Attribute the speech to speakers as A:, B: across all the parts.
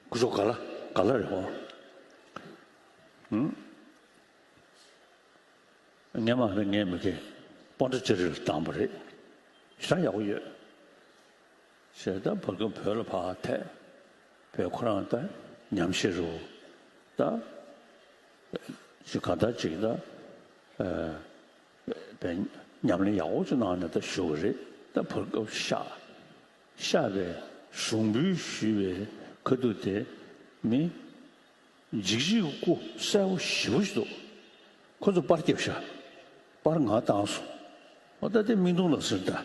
A: སྐུ་གཟུགས་ག་ལ་ག་ལ་རེད་བོ། ངས་མ་ཕེབས་ངའི་མི་ཁའི་སྤོ་འདྲ་ཅི་རེད་ལ་བཏང་བ་རེད། ཤ་ཡག་པོ་ཡོད། ཞེས་ད་བབ་ཀྱང་བོད་ལ་བག་ཐད་བོད་ཁོ་རང་ད་ཉམས་ཤེས་རུ་ད་ཅི་ག་ད་ཅིག་ད་བས་ཉམས་ལེན་ཡག་པོ་ཅིག་གནང་ནས་ད་བཞུགས་པ་རེད་ད་བབ་སྐབས་ཤ་ཤར་པའི་ཞུགས་འབུལ་ཞུས་པའི་ཁུ་རྡུལ་དེ་ནི། འཇིགས་བྱེད་ཀྱི་སྐུ་གསལ་བོ་བཞི་པོ་ཞིག་འདུག་ཁོ་ཚོ་པར་སྐྱབས་ཤ་པར་ང་བཏང་སོང་ཨོ་ད་དེ་མིག་མདུང་ལ་ཟིན་ད་བྱ་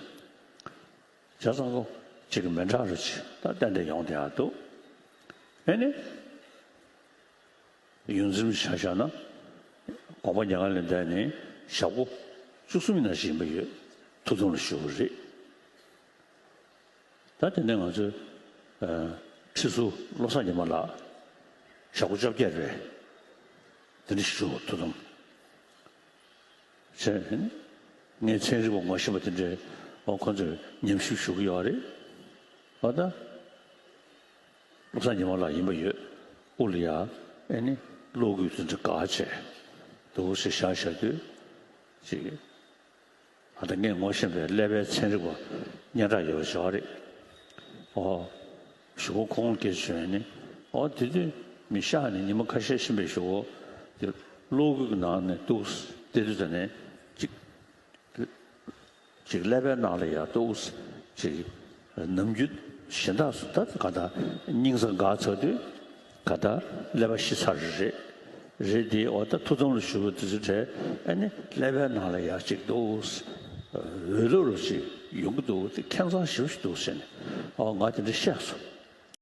A: བཟང་པོ་གཅིག་གི་མེ་འཁྲག་རུ་ཆེ་ད་གཏན་ནས་ཡོང་བསྡད་འདུག་ཨེ་ནི། ཡུན་ཟིན་བྱ་བཞག་ན་དགོངས་པ་ཉག་ལས་འདས་ནས་ཞག་པོ་བཅུ་གསུམ་ཡིན་ན་བཞིན་པ་ཡོད་ཐུགས་དམ་ལ་ཞུ་གི་རེད། ད་དེ་ནས་ང་ཚོས་ཁྲི་ཟུར་བློ་བཟང་ཉི་མ་ལགས་ཞག་གོ་བཅོ་བརྒྱད་རེད། དེ་འདྲ་ཞིག་བྱུང་བ་ཐུགས་དམ་བཅས་ཡིན། ངས་ཚན་རིག་པ་ངོ་ཤེས་པ་དེ་འདྲའི་འོག་ཁོང་ཚོས་ཉམས་ཞིབ་ཞུ་གི་ཡོད་རེད། ཨོ་ད། བློ་བཟང་ཉི་མ་ལགས་ཡིན་པ་ཡོད་དབུ་ལ་ཡ་ཨེ་ནི་གློག་སྐུད་དེ་འདྲ་ག་བྱས་འདུག་ཞེས་བྱ་བྱ་དུས་ཅིག། ང་དང་ངས་ངོ་བཞེངས་པའི་ཀླད་པའི་ཚན་རིག་པ་སྙན་གྲགས་ཡོད་པ་བྱ་བ་རེད། ཨོ། ཞུ་བོ་ཁོང་དགེ་བྱོན་ནི་ཨོ་དེ་དུས་མི་ཤ་ནི་ཉི་མ་ཁ་ཤས་ཕྱིན་པའི་ཞུ་བོ་དེ་གློག་སྒུལ་གྱི་ནང་ནས་ཏུའུ་སི་སྟེ་དུས་ད་ནས་གཅིག། གཅིག་ཀླད་པའི་ནང་ལ་ཡར་ཏུའུ་སི་གཅིག། ནམ་རྒྱུན་གཞན་དག་སུ་ལྟ་ག་ལྟ་སྙིང་གཟའ་འགག་ཚར་དུས་ག་ལྟ་ཀླད་པ་ཤི་ཚར་རེད་རེད་དེ་འོ་ད་ཐུགས་དམ་ལ་ཞུགས་དུས་ཚོད་དྲན་ཨ་ནི་ཀླད་པའི་ནང་ལ་ཡག་ཅིག་འདུག་འོད་ལུ་ལུ་ཅིག་ཡོང་གི་འདུག་དེ་ཁེངས་གཙང་ཞིབ་ཞིག་འདུག་ཟེར་ནས་ཨོ་ང་དེ་འདྲ་བཤད་སོང།